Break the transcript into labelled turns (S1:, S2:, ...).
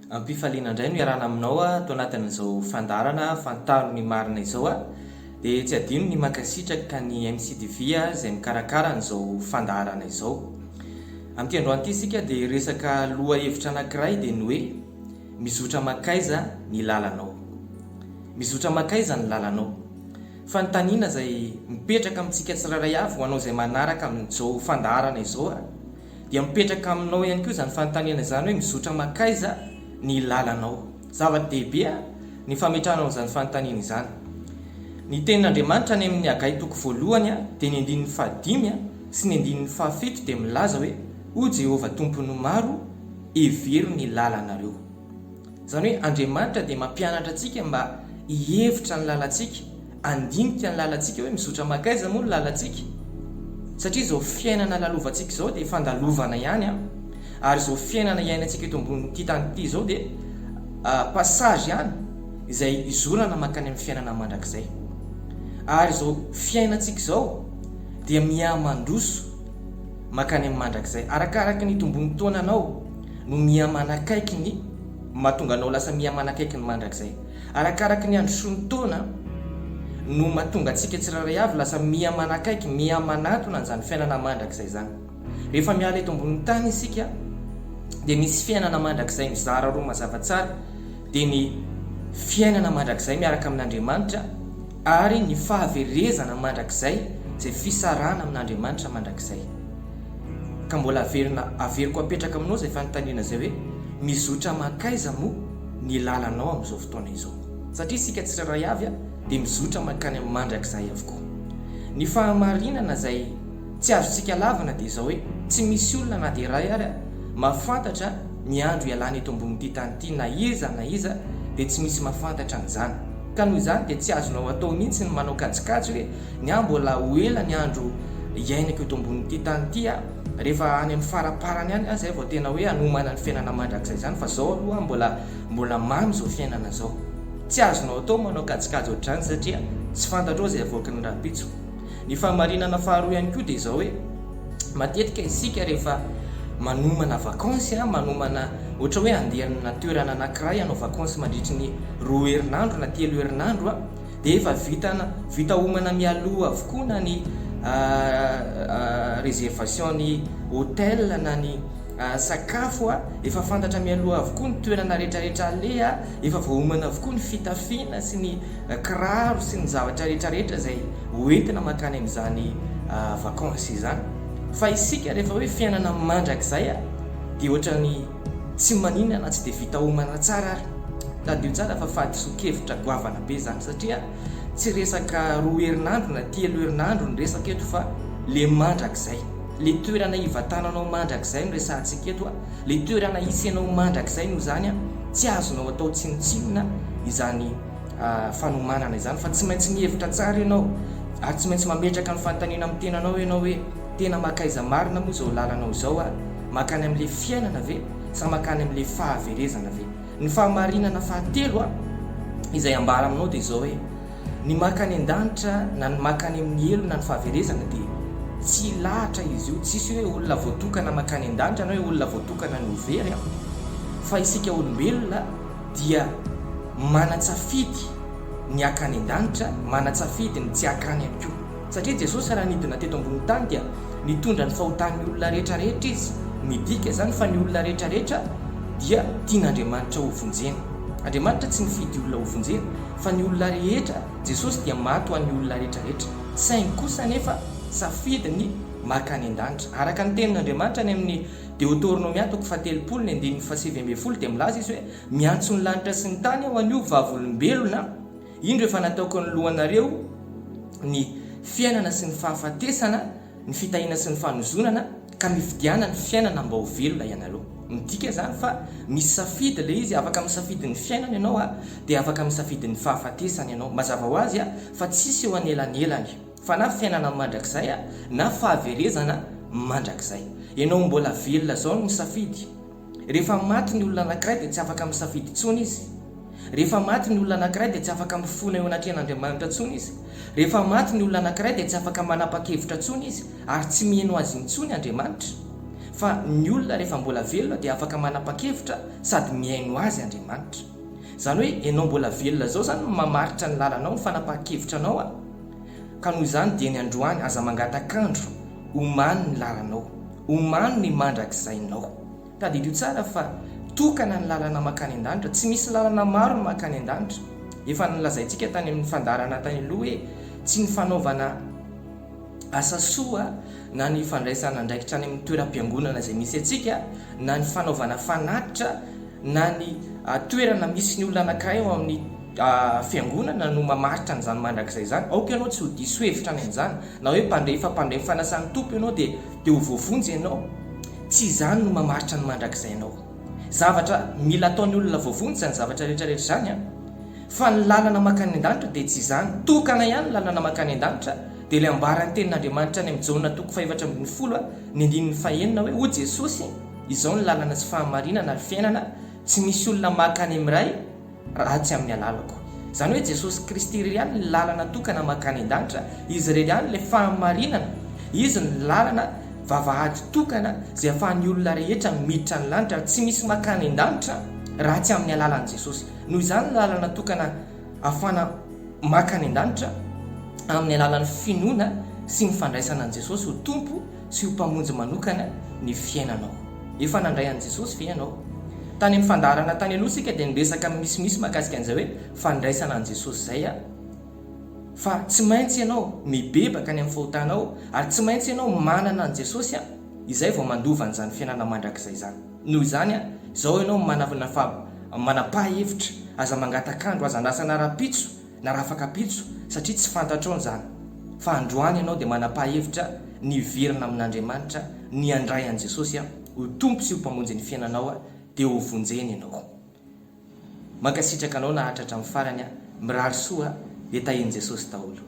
S1: Ampifaliana indray no iarahana aminao ato anatin'izao fandaharana Fantaro ny marina izao. Dia tsy adino ny mankasitraka ny MCTV izay mikarakara an'izao fandaharana izao. Amin'ity androany ity isika dia hiresaka lohahevitra anankiray dia ny hoe Mizotra mankaiza ny lalanao? Mizotra mankaiza ny lalanao? Fanontaniana izay mipetraka amintsika tsirairay avy ho anao izay manaraka amin'izao fandaharana izao dia mipetraka aminao ihany koa izany fanontaniana izany hoe mizotra mankaiza ny lalanao. Zava-dehibe ny fametrahana an'izany fanontaniana izany. Ny tenin'Andriamanitra any amin'ny Hagay toko voalohany dia ny andininy fahadimy sy ny andininy fahafito dia milaza hoe O Jehovah Tompon'ny maro, hevero ny lalanareo. Izany hoe Andriamanitra dia mampianatra antsika mba hihevitra ny lalantsika, handinika ny lalantsika hoe mizotra mankaiza moa ny lalantsika? Satria izao fiainana lalovantsika izao dia fandalovana ihany an! Ary izao fiainana iainantsika eto ambonin'ity tany ity izao dia passage ihany izay hizorana mankany amin'ny fiainana mandrakizay. Ary izao fiainantsika izao dia mihamandroso mankany amin'ny mandrakizay, arakaraka ny itombon'ny taonanao. no mihamanakaiky ny mahatonga anao lasa mihamanakaiky ny mandrakizay. Arakaraky ny andro sy ny taona no mahatonga antsika tsirairay avy lasa mihamanakaiky, mihamanatona an'izany fiainana mandrakizay izany. Rehefa miala eto ambonin'ny tany isika dia misy fiainana mandrakizay mizara roa mazava tsara, dia ny fiainana mandrakizay miaraka amin'Andriamanitra ary ny fahaverezana mandrakizay, izay fisarahana amin'Andriamanitra mandrakizay. Ka mbola averina averiko apetraka aminao izay fanontaniana izay hoe, mizotra mankaiza moa ny lalanao amin'izao fotoana izao? Satria isika tsirairay avy dia mizotra mankany amin'ny mandrakizay avokoa. Ny fahamarinana izay tsy azontsika lavina dia izao hoe, tsy misy olona na dia iray ary mahafantatra ny andro hialany eto ambonin'ity tany ity, na iza na iza dia tsy misy mahafantatra an'izany. Ka noho izany dia tsy azonao atao mihitsy ny manao kajikajy hoe, Ny ahy mbola ho ela ny andro hiainako eto ambonin'ity tany ity a! Rehefa any amin'ny faraparany any aho izay vao tena hoe hanomana ny fiainana mandrakizay izany fa izao aloha mbola mbola mamy izao fiainana izao. Tsy azonao atao manao kajikajy ohatr'izany satria tsy fantatrao izay havoaky ny rahampitso. Ny fahamarinana faharoa ihany koa dia izao hoe matetika isika rehefa manomana vakansy a, manomana ohatra hoe handeha amina toerana anankiray hanao vakansy mandritry ny roa herinandro na telo herinandro a, dia efa vitana, vita homana mialoha avokoa na ny réservation ny hotel na ny sakafo a, efa fantatra mialoha avokoa ny toerana rehetrarehetra aleha, efa voahomana avokoa ny fitafiana sy ny kiraro sy ny zavatra rehetrarehetra izay hoentina mankany amin'izany vakansy izany fa isika rehefa hoe fiainana mandrakizay dia ohatran'ny Tsy manina na tsy dia vita homana tsara ary. Tadidio tsara fa fahadisoan-kevitra goavana be izany satria tsy resaka roa herinandro na telo herinandro ny resaka eto fa le mandrakizay. Le toerana hivatananao mandrakizay no resahantsika eto a! Le toerana hisy anao mandrakizay no izany a! Tsy azonao atao tsinontsinona izany fanomanana izany fa tsy maintsy mihevitra tsara ianao ary tsy maintsy mametraka ny fanontaniana amin'ny tenanao ianao hoe tena makaiza marina moa izao lalanao izao a! Mankany amin'ilay fiainana ve sa mankany amin'ilay fahaverezana ve? Ny fahamarinana fahatelo izay ambara aminao dia izao hoe, ny mankany an-danitra na ny mankany amin'ny helo na ny fahaverezana dia tsy lahatra izy io, tsisy hoe olona voatokana mankany an-danitra na hoe olona voatokana ny ho very, fa isika olombelona dia manan-tsafidy ny hankany an-danitra, manan-tsafidy ny tsy hankany ihany koa. Satria Jesosy raha nidina teto ambony tany dia nitondra ny fahotan'ny olona rehetra rehetra Izy. Midika izany fa ny olona rehetra rehetra dia tian'Andriamanitra ho vonjena. Andriamanitra tsy nifidy olona ho vonjena fa ny olona rehetra, Jesosy dia maty ho an'ny olona rehetra rehetra. Saingy kosa anefa safidy ny maka any an-danitra. Araka ny tenin'Andriamanitra any amin'ny Deoteronomia toko fahatelopolo ny andininy fahasivy ambin'ny folo dia milaza Izy hoe, Miantso ny lanitra sy ny tany aho anio vavolombelona, Indro efa nataoko anoloanareo ny fiainana sy ny fahafatesana, ny fitahiana sy ny fanozonana, ka mifidiana ny fiainana mba ho velona ianareo. Midika izany fa misy safidy ilay izy, afaka misafidy ny fiainana ianao dia afaka misafidy ny fahafatesana ianao. Mazava ho azy fa tsisy eo anelanelany fa na fiainana mandrakizay na fahaverezana mandrakizay. Ianao mbola velona izao no misafidy. Rehefa maty ny olona anankiray dia tsy afaka misafidy intsony izy. Rehefa maty ny olona anankiray dia tsy afaka mifona eo anatrehan'Andriamanitra intsony izy. Rehefa maty ny olona anankiray dia tsy afaka manapa-kevitra intsony izy ary tsy miheno azy intsony Andriamanitra. Fa ny olona rehefa mbola velona dia afaka manapa-kevitra sady mihaino azy Andriamanitra. Izany hoe ianao mbola velona izao izany no mamaritra ny lalanao, ny fanapahan-kevitranao a! Ka noho izany dieny androany aza mangatak'andro omanin'ny lalanao. Omano ny mandrakizainao. Tadidio tsara fa tokana ny lalana mankany an-danitra, tsy misy lalana maro mankany an-danitra. Efa nolazaintsika tany amin'ny fandaharana tany aloha hoe tsy ny fanaovana asa soa na ny fandraisana andraikitra any amin'ny toeram-piangonana izay misy antsika na ny fanaovana fanatitra na ny toerana misy ny olona anankiray ao amin'ny Fiangonana no mamaritra an'izany mandrakizay izany. Aoka ianao tsy ho diso hevitra any amin'izany. Na hoe mpandray fa mpandray ny fanasan'ny Tompo ianao dia dia ho voavonjy ianao. Tsy izany no mamaritra ny mandrakizay anao. Zavatra mila ataon'ny olona voavonjy izany zavatra rehetra rehetra izany an! Fa ny lalana mankany an-danitra dia tsy izany. Tokana ihany ny lalana mankany an-danitra. Dia ilay ambaran'ny tenin'Andriamanitra any amin'i Jaona toko fahefatra ambin'ny folo ny andininy fahenina hoe hoy Jesosy, Izao ny lalana sy fahamarinana ary fiainana, tsy misy olona maka any amin'ny Ray, ratsy amin'ny alalako. Izany hoe Jesosy Kristy irery ihany ny lalana tokana mankany an-danitra, Izy irery ihany ilay fahamarinana, Izy no lalana, vavahady tokana izay ahafahan'ny olona rehetra miditra any lanitra ary tsy misy mankany an-danitra raha tsy amin'ny alalan'i Jesosy. Noho izany ny lalana tokana ahafana mankany an-danitra amin'ny alalan'ny finoana sy ny fandraisana an'i Jesosy ho Tompo sy ho Mpamonjy manokana ny fiainanao. Efa nandray an'i Jesosy ve ianao? Tany amin'ny fandaharana tany aloha isika dia niresaka misimisy mahakasika an'izay hoe fandraisana an'i Jesosy izay an! Fa tsy maintsy ianao mibebaka any amin'ny fahotanao ary tsy maintsy ianao manana an'i Jesosy an! izay vao mandova an'izany fiainana mandrakizay izany. Noho izany an! izao ianao manana faha-, manam-paha-hevitra, aza mangatak'andro, aza andrasana rahampitso, Narafaka ampitso satria tsy fantatrao izany fa androany ianao dia manam-pahevitra ny hiverina amin'Andriamanitra, ny handray an'i Jesosy ho Tompo sy ho Mpamonjin'ny fiainanao dia ho vonjeny ianao. Mankasitraka anao naharitra hatramin'ny farany, mirary soa dia tahian'i Jesosy daholo.